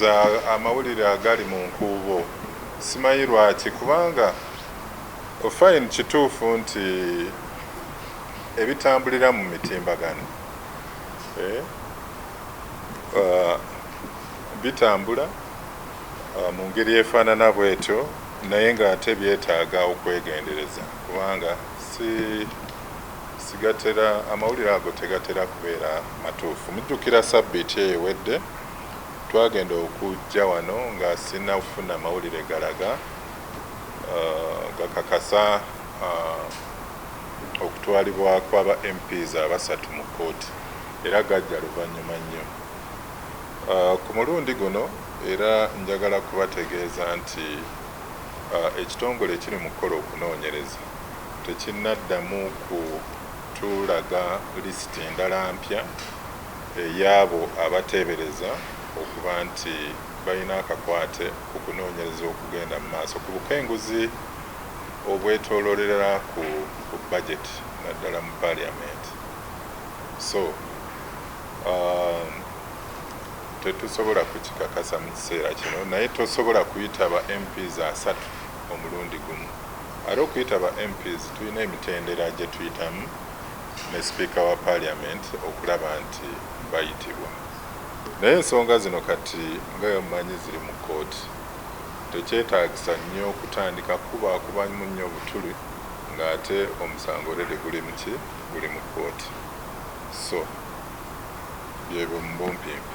Za amawulire agali mu nkuubo simanyi lwaki kubanga fine kituufu nti ebitambulira mu mitimbagano bitambula mu ngeri efaanana bwetyo naye nga ate byetaaga okwegendereza kubanga si sigatera amawulire ago tegatera kubeera matuufu. Mujjukira sabbiiti eyo ewedde Twagenda okujja wano nga sinnafuna mawulire galaga, gakakasa okutwalibwa kwa ba MPs abasatu mu kkooti era gajja luvannyuma nnyo. Ku mulundi guno era njagala kubategeeza nti ekitongole ekiri mu kukola okunoonyereza tekinnaddamu kutulaga lisiti ndala mpya. ey'abo abateebereza okuba nti balina akakwate ku kunoonyereza okugenda mu maaso ku bukenguzi obwetoolorera ku ku budget naddala mu parliament so um, tetusobola kukikakasa mu kiseera kino naye tosobola kuyita ba mps asatu omulundi gumu ate okuyita ba mps tulina emitendera gye tuyitamu ne sipiika wa parliament okulaba nti bayitibwa naye ensonga zino kati nga bwemumanyi ziri mu kooti tekyetagisa nyo kutandika kukubakubanmu nyo butuli nga ate omusango already guli muki guli mu kooti so byebyo mubumpimpi.